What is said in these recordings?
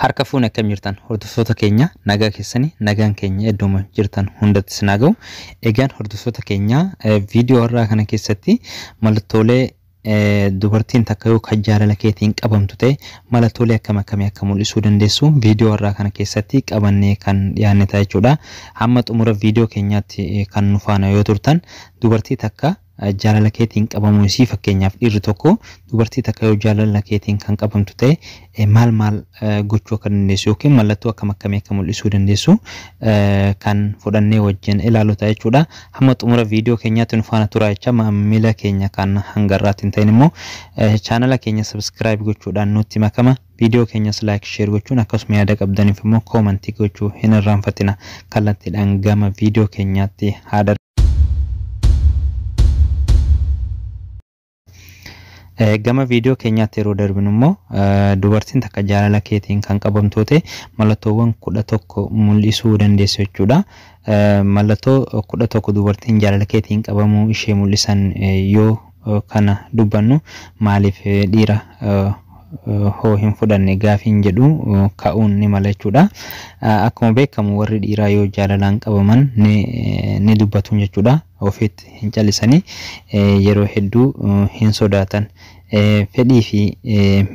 Harka fuune akkam jirtan hordoftoota keenya nagaa keessani nagaan keenya iddooma jirtan hundatti sinaa ga'u egaan hordoftoota keenya viidiyoo irraa kana keessatti mallattoolee dubartiin takka yoo kan jaalala keetiin qabamtu ta'e mallattoolee akkam akkamii akka mul'isuu dandeessu viidiyoo irraa kana keessatti qabannee kan dhiyaanne ta'a jechuudha. Hamma xumura viidiyoo keenyaatti kan nu faana yoo turtan dubartii takka jaalala keetiin qabamuu isii fakkeenyaaf dhiirri tokko dubartii takka yoo jaalala keetiin kan qabamtu ta'e maal maal gochuu akka dandeessu yookiin mallattoo akkam akkamii akka mul'isuu dandeessu kan fudhannee wajjin ilaalu ta'a jechuudha. Hamma xumura viidiyoo keenyaatti nu faana turaa jecha maamila keenya kan hanga irraatti hin ta'in immoo chaanala keenya sabiskiraayib gochuudhaan nutti makama viidiyoo keenyas laayik sheer gochuun akkasuma yaada qabdaniif immoo koomantii gochuu hin irraanfatina kallattiidhaan gama viidiyoo keenyaatti haadha gama viidiyoo keenyaatti yeroo darbinu immoo dubartiin takka jaalala keetiin kan qabamtu ta'e mallattoowwan kudha tokko mul'isuu dandeessu jechuudha. Mallattoo kudha tokko dubartiin jaalala keetiin qabamuu ishee mul'isan yoo kana dubbannu maaliif dhiira hoo hin fudhanne gaafiin jedhu ka'uun ni mala jechuudha. Akkuma beekamu warri dhiiraa yoo jaalalaan qabaman ni ni dubbatu jechuudha. Ofiitti hin callisanii yeroo hedduu hin sodaatan. Fedhii fi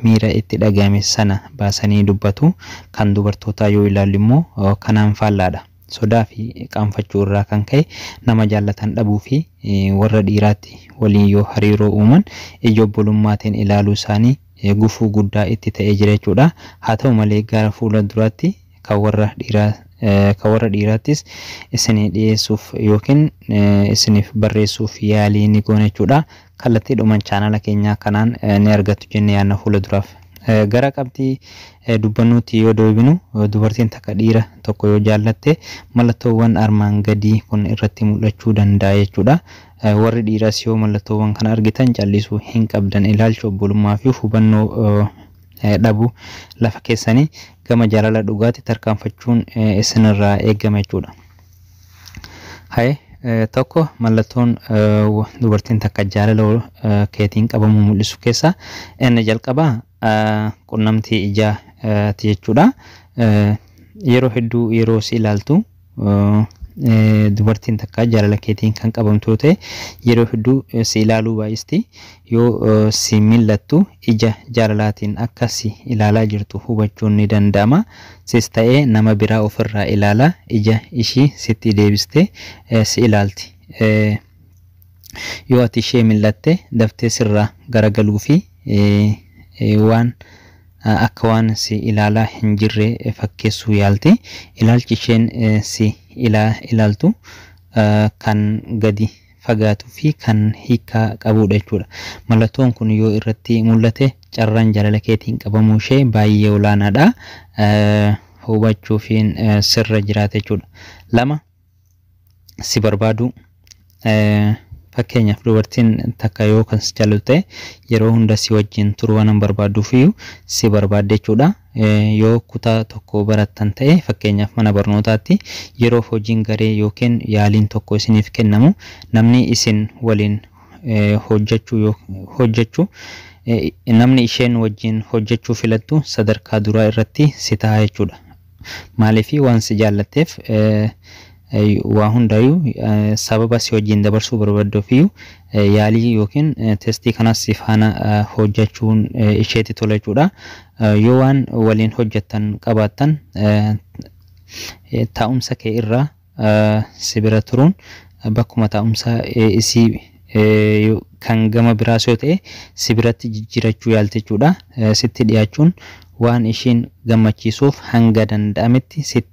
miira itti dhaga'ame sana baasanii dubbatu. Kan dubartootaa yoo ilaallu immoo kanaan faallaadha. Sodaa fi qaanfachuu irraa kan ka'e nama jaallatan dhabuu fi warra dhiiraatti waliin yoo hariiroo uuman ija obbolummaatiin ilaaluu isaanii gufuu guddaa itti ta'ee jira jechuudha. Haa ta'u malee gara fuula duraatti kan warra dhiiraa kan warra dhiiraattis isinii dhiyeessuuf yookiin isiniif barreessuuf yaalii ni goona jechuudha. kallattiidhuman chaanala keenyaa kanaan ni argattu jenne yaadna fuula duraaf. Gara qabxii dubbannuutti yoo deebinu dubartiin takka dhiira tokko yoo jaallatte mallattoowwan armaan gadii kun irratti mul'achuu danda'a jechuudha. Warri dhiiraas yoo mallattoowwan kana argitan callisuu hin qabdan. Ilaalchi obbolummaa fi hubannoo dhabuu lafa keessanii gama jaalala dhugaatti tarkaanfachuun isinirraa eegama jechuudha. Haye eh, tokko mallattoon eh, wa- dubartiin takka jaalala wal- eh, keetiin qabamuu mul'isu keessaa inni jalqabaa eh, qunnamtii ijaa eh, ti jechuudha. Eh, Yeroo hedduu yeroo si ilaaltu eh, eh, dubartiin takka jaalala keetiin kan qabamtu yoo ta'e yeroo hedduu eh, si ilaaluu baay'isti. Yoo si mil'attu ija jaalalaatiin akka si ilaalaa jirtu hubachuun ni danda'ama. Sis ta'ee nama biraa ofirraa ilaalaa ija ishii sitti deebistee si ilaalti. Yoo ati ishee mil'atte daftee sirraa garagaluu fi waan akka waan si ilaalaa hin jirre fakkeessuu yaalti. Ilaalchi isheen si ilaaltu kan gadi fagaatuu fi kan hiikkaa qabuudha jechuudha. Mallattoon kun yoo irratti mul'ate carraan jaalala keetiin qabamuu ishee baay'ee olaanaadha. Hubachuufiin sirra jiraata jechuudha. Lama si barbaaduu. Fakkeenyaaf dubartiin takka yoo kan si jaalatu ta'e yeroo hunda si wajjin turuu waan hin barbaadduuf iyyuu si barbaadde jechuudha. Yoo kutaa tokko barattan ta'e, fakkeenyaaf mana barnootaatti, yeroof hojiin garee ykn yaaliin tokko isiniif kennamu, namni isin waliin hojjachuu yo hojjachu namni isheen wajjin hojjachuu filattu sadarkaa duraa irratti si taha jechuudha. Maaliif? Waan si jaallatteef, waa hundaayuu sababa si wajjin dabarsuu barbadduufiyyuu yaalii yookiin testii kanas si faana hojjachuun isheetti tola jechuudha. Yoo waan waliin hojjattan qabaattan taa'umsa kee irraa si bira turuun bakkuma taa'umsa isii kan gama biraas yoo ta'e si biratti jijjiirachuu yaalti jechuudha. Sitti dhiyaachuun waan ishiin gammachiisuuf hanga danda'ametti sitti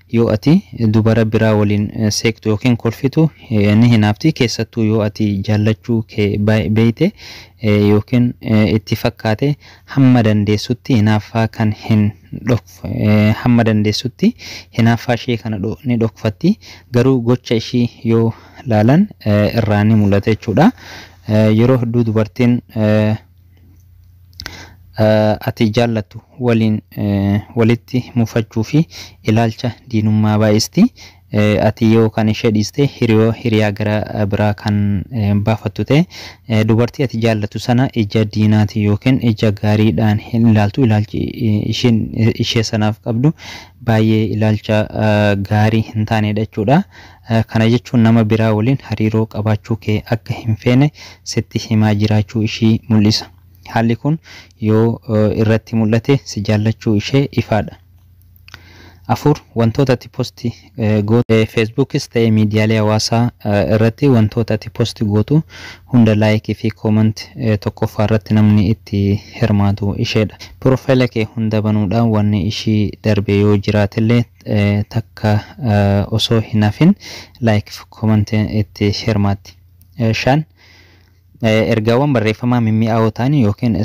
Yoo ati dubara biraa waliin seeqxu ykn kolfitu ni hinaafti, keessattuu yoo ati jaallachuu kee beekte ykn itti fakkaate hamma dandeessutti hinaaffaa kan hin hamma dandeessutti hinaaffaa ishee kana ni dhokfatti, garuu gocha ishii yoo laalan irraa ni mul'ata jechuudha. Yeroo hedduu dubartiin. ati jaallattu waliin walitti mufachuu fi ilaalcha diinummaa baay'isti. Ati yoo kan ishee dhiiste hiriyoo hiriyaa gara biraa kan baafattu ta'e dubartii ati jaallattu sana ija diinaati yookiin ija gaariidhaan hin ilaaltu. Ilaalchi ishiin ishee sanaaf qabdu baay'ee ilaalcha gaarii hin taanedha jechuudha. Kana jechuun nama biraa waliin hariiroo qabaachuu kee akka hin feene sitti himaa jiraachuu ishii mul'isa. Haalli kun yoo irratti mul'ate si jaallachuu ishee ifaa dha. 4, Wantoota ati post gootu. Feesbuukis ta'e miidiyaalee hawaasaa irratti wantoota ati post gootu hunda like fi comment tokkoffaa irratti namni itti hirmaatu ishee dha. Piroofaayila kee hunda banuudhaan wanni ishii darbe yoo jiraate illee takka osoo hin hafin like fi comment itti hirmaatti. 5, Ergaawwan barreeffamaa mimmi'aawoo ta'an ykn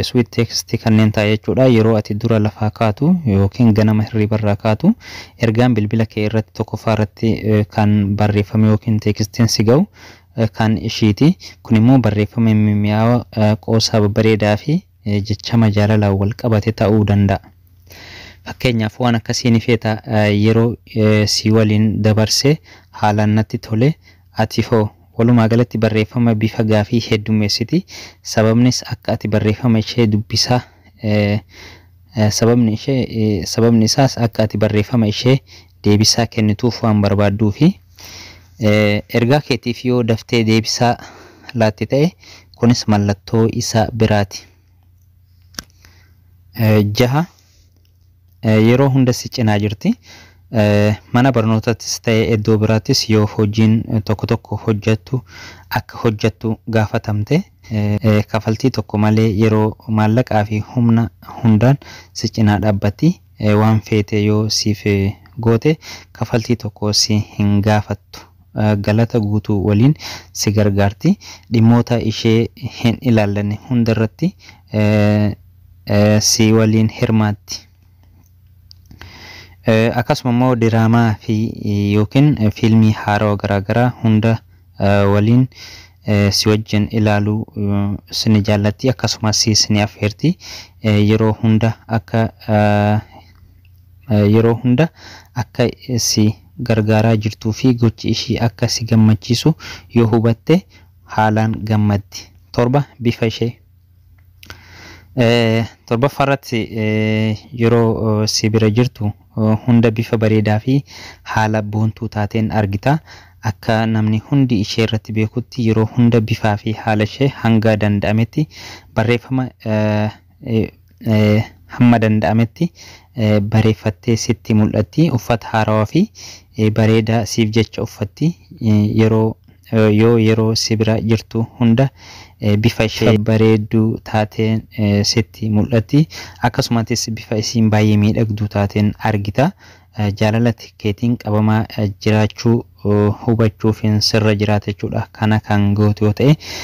sweet text kanneen ta'a jechuudha. Yeroo ati dura lafaa kaatu ykn ganama hirribarraa kaatu ergaan bilbila kee irratti tokkoffaa irratti kan barreeffame ykn teekstiin si ga'u kan ishiiti. Kun immoo barreeffama mimmi'aawaa qoosaa babbareedaa fi jechama jaalalaan wal qabate ta'uu danda'a. Fakkeenyaaf waan akkasii ni feeta yeroo si waliin dabarse haalaan natti tole ati hoo? Walumaa galatti barreeffama bifa gaafii heddummeessiti. Sababnis akka ati barreeffama ishee dubbisaa sababni ishee sababni isaas akka ati barreeffama ishee deebisaa kennituuf waan barbaadduufi. Ergaa keetiif yoo daftee deebisaa laatte ta'e, kunis mallattoo isa biraati. 6, Yeroo hunda si cinaa jirti. Mana barnootaattis ta'e iddoo biraattis yoo hojiin tokko tokko hojjettu akka hojjettu gaafatamte, kafaltii tokko malee yeroo, maallaqaafi humna hundaan si cinaa dhaabbatti. waan feete yoo siif goote kafaltii tokko si hin gaafattu. Galata guutuu waliin si gargaarti. Dhimmoota ishee hin ilaallanne hundarratti si waliin hirmaatti. Akkasuma immoo diraamaa fi yookiin fiilmii haarawa garaagaraa hunda waliin si wajjin ilaalu sini jaallatti akkasumas si sini affeerti yeroo hunda akka yeroo hunda akka si gargaaraa jirtuu fi gochi ishii akka si gammachiisu yoo hubatte haalaan gammaddi. 7 bifa ishee. Torbaffaa irratti yeroo si bira jirtu hunda bifa bareedaa fi haala boontuu taateen argita. Akka namni hundi ishee irratti beekutti yeroo hunda bifaa fi haala ishee hanga danda'ametti barreeffama hamma danda'ametti bareeffattee sitti mul'atti. Uffata haarawaa fi bareedaa siif jecha uffatti. Yeroo Yoo yeroo si bira jirtu hunda bifa ishee bareedduu taateen sitti mul'atti. Akkasumatis bifa isiin baay'ee miidhagduu taateen argita. Jaalala keetiin qabamaa jiraachuu hubachuufiin sirra jiraata jechuudha. Kana kan gootu yoo ta'e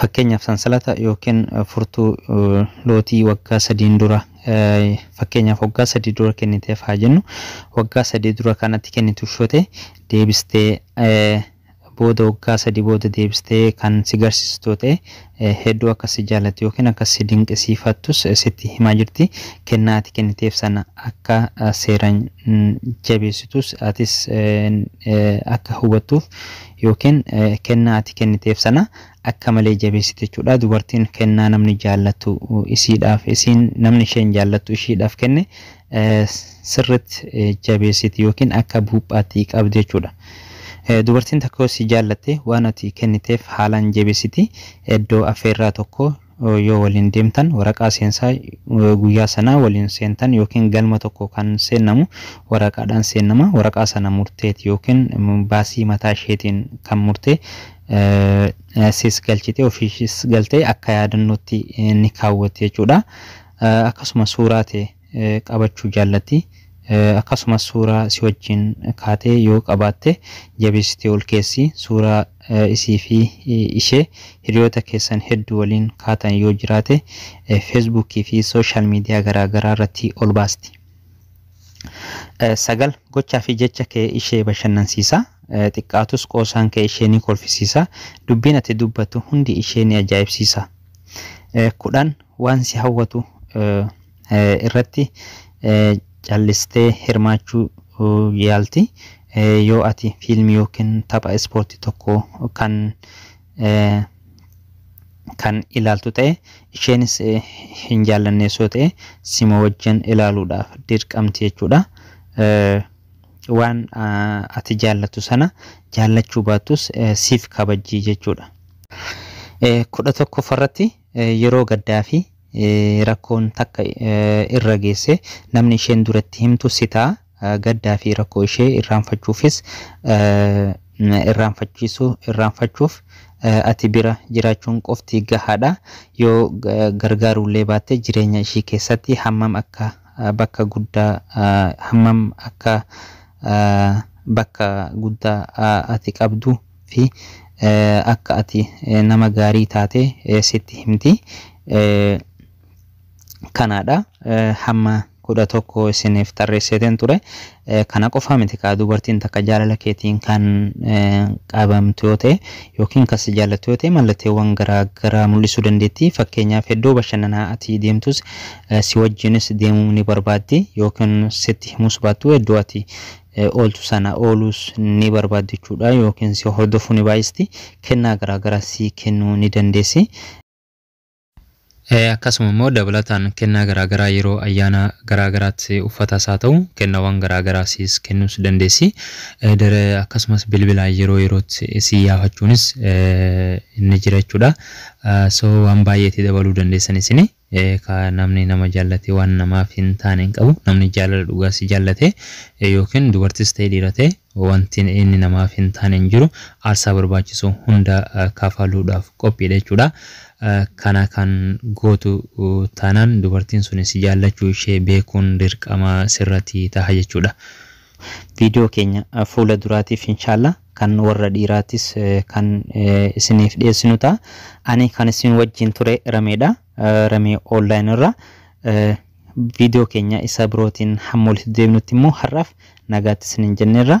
Fakkeenyaaf sansalata yookiin furtuu lootii waggaa sadiin dura fakkeenyaaf waggaa sadii dura kenniteef haa jennu waggaa sadii dura kanatti kennitu shote deebistee booda waggaa sadii booda deebistee kan si garsiistu ta'e hedduu akka si jaalatu yookiin akka si dinqisiifattus sitti himaa jirti. Kennaa ati kenniteef sana akka seeraan jabeessitus atis akka hubattuuf yookiin kennaa ati kenniteef sana akka malee jabeessite jechuudha. Dubartiin kennaa namni jaallatu isiidhaaf isiin namni isheen jaallattu ishiidhaaf kenne sirritti jabeessiti yookiin akka buuphaatti qabdi jechuudha. Dubartiin tokko yoo si jaallatte waan ati kenniteef haalaan jabeessiti. Iddoo affeerraa tokko yoo waliin deemtan waraqaa seensaa guyyaa sanaa waliin seentan yookiin galma tokko kan seennamu waraqaadhaan seennama. Waraqaa sana murteeti yookiin baasii mataa isheetiin kan murtee sis galchite ofiis galtee akka yaadannootti ni kaawwatti jechuudha. Akkasuma suuraa tee qabachuu jaallatti. Akkasumas suuraa si wajjiin kaate yoo qabaatte jabeessitee ol keessi. Suuraa isii fi ishee hiriyoota keessan hedduu waliin kaatan yoo jiraate Facebook fi social media garaa garaa irratti ol baasti. 9, Gochaa fi jecha kee ishee bashannansiisa. Xiqqaatus qoosaan kee ishee ni kolfisiisa. Dubbiin ati dubbattu hundi ishee ni ajaa'ibsiisa. 10, Waan si hawwatu irratti callistee hirmaachuu yaalti. Yoo ati fiilmii ykn tapha ispoortii tokko kan kan ilaaltu ta'e, isheenis hin jaallannees yoo ta'e, sima wajjin ilaaluudhaaf dirqamti jechuudha. Waan ati jaallattu sana jaallachuu baattus siif kabajji jechuudha. 11ffarratti Yeroo gaddaa fi rakkoon takka irra geesse namni isheen dura itti himtu si ta'a. Gaddaa fi rakkoo ishee irraanfachuufis irraanfachiisu irraanfachuuf ati bira jiraachuun qofti gahaadha. Yoo gargaaruu illee baatte jireenya ishii keessatti hammam akka bakka guddaa hammam akka bakka guddaa ati qabdu fi akka ati nama gaarii taate sitti himti. Kanaa dha. Hamma 11 isiniif tarreesseetiin ture. Kana qofaa miti kaa dubartiin takka jaalala keetiin kan qabamtu yoo ta'e yookiin kan si jaallattu yoo ta'e mallatteewwan garaa garaa mul'isuu dandeetti. Fakkeenyaaf iddoo bashannanaa ati deemtus si wajjinis deemuu ni barbaaddi yookiin sitti himuus baattu iddoo ati ooltu sana ooluus ni barbaaddi jechuudha yookiin si hordofuu ni baay'isti kennaa garaagaraa sii kennuu ni dandeessi. Akkasuma immoo dabalataan kennaa garaagaraa yeroo ayyaana garaagaraatti uffatas haa ta'u kennawwan garaagaraa siis kennuus dandeessi. Akkasumas bilbilaan yeroo yerootti sii yaafachuunis ni jira jechuudha. So waan baay'eetti dabaluu dandeessan isinii. Ee kaa namni nama jaallatee waan namaaf hin taane hin qabu. Namni jaalala dhugaa si jaallatee yookiin dubartis ta'ee dhiira ta'e wanti inni namaaf hin taane hin jiru. Aarsaa barbaachisu hunda kafaluudhaaf qophiidha jechuudha. Kana kan gootu taanaan dubartiin suni si jaallachuu ishee beekuun dirqama sirrati taha jechuudha. Video keenya fuula duraatiif inshallah kan warra dhiiraatis kan isiniif dhiyeessinu ta'a. Ani kan isin wajjin ture Rameedha. Ramee online irra video keenya isa birootiin hamma walitti deebinutti immoo har'aaf nagaatti isinin jenneerra.